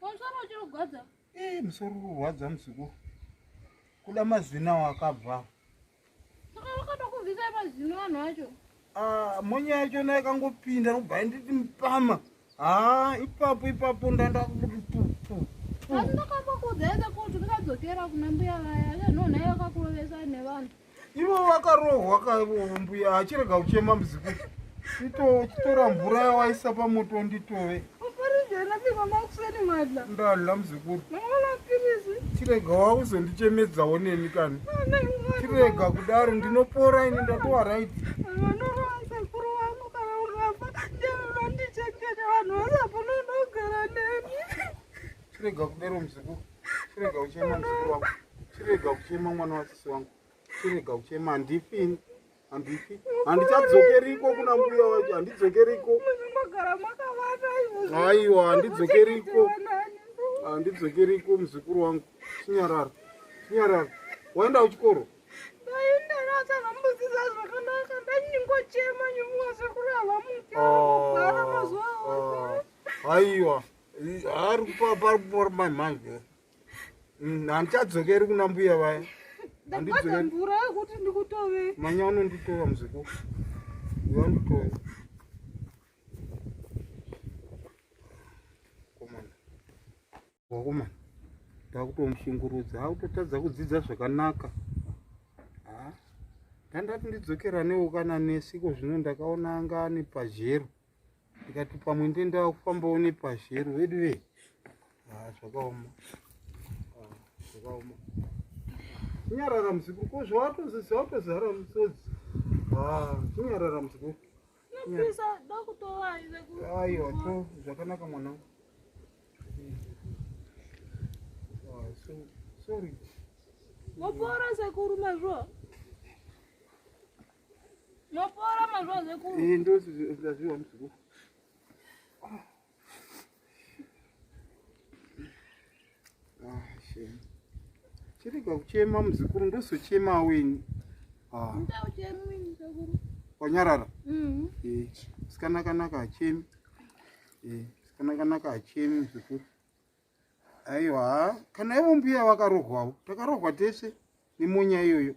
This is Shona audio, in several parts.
Musoro uchiri kurwadza? Eh, musoro uri kurwadza muzukuru. Kuda mazino awo akabva. Saka vakatokuvhisa mazino vanhu vacho. Ah, monya yacho nayo yakangopinda ndobva nditi mupama. Ah, ipapo ipapo ndanda kuti pu pu. Asi ndakakuudza kuti ndikadzokera kuna mbuya vaya. Vanhu nayo vakakurovesa nevanhu. Ivo vakarohwa kaivo mbuya achirega kuchema muzukuru. Ito chitora mvura yawaisa pamoto nditove. Ndadla muzukuru. Chirega wauzondichemedzawo neni kani. Chirega kudaro ndinopora ini ndatowa right. Chirega kudaro muzukuru. chirega kuchema mzukuru wangu chirega kuchema mwana wasisi wangu chirega kuchema handifini handifi handicadzokeriko kuna mbuya wacho handidzokeriko aiwa handidzokeriko handidzokeriko mzukuru wangu chinyarara chinyarara waenda kuchikoro aiwa oh, oh, oh. ari paripori mai manje mm, handichadzokeri kuna mbuya vaya ndikuazambura kuti ndikutove manya unonditova muziku wanditove komana wakomana ndakutomushungurudza akutotadza kudzidza zvakanaka ndandati ndidzokeranewo kana nesi iko zvino ndakaona anga ane pazhero ndikati pamwe ndendaa kufambawo nepazhero vedu ve ah, zvakaoma ah, zvakaoma kunyarara muzukuru ko zvawatozizawatozara musodzi ah, kunyarara muzukuru aiwa to zvakanaka mwana sorry mopora sekuru mazvo Mopora mazuva zvekuru. Iyi ndo zvaziva muzukuru. Ah, shame. Chirega kuchema muzukuru ndozochema weni. Ah. Ndauchema weni muzukuru. Wanyarara? Mhm. Eh, sikana kanaka achemi. Eh, sikana kanaka achemi muzukuru. aiwa kana ivo mbuya vakarohwawo takarohwa tese nemonya iyoyo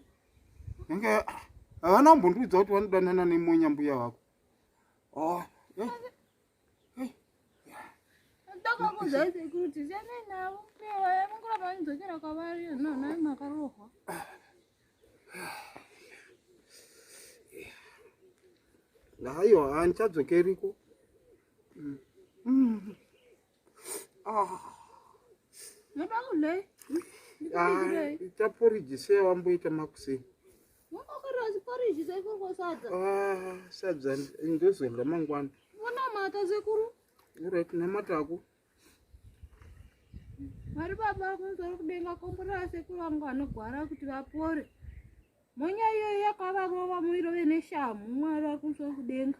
yange ah, havana kumbondiudza kuti vanodanana nemonya mbuya vako oh, eh, eh, aiwa handichadzokeriko mm. mm. Ah. Noda kudai. Ah, ita porridge sei wamboita makuseni. Wakakarasi porridge sei kurwa sadza. Ah, sadza ndozodya mangwana. Vona mata sekuru. Alright, namata hako. Mari baba kunzwa kudenga komborera sekuru vangu vanogwara kuti vapore. Monya iyoyo yakavarova muirove neshamhu mwari vari kunzwa kudenga.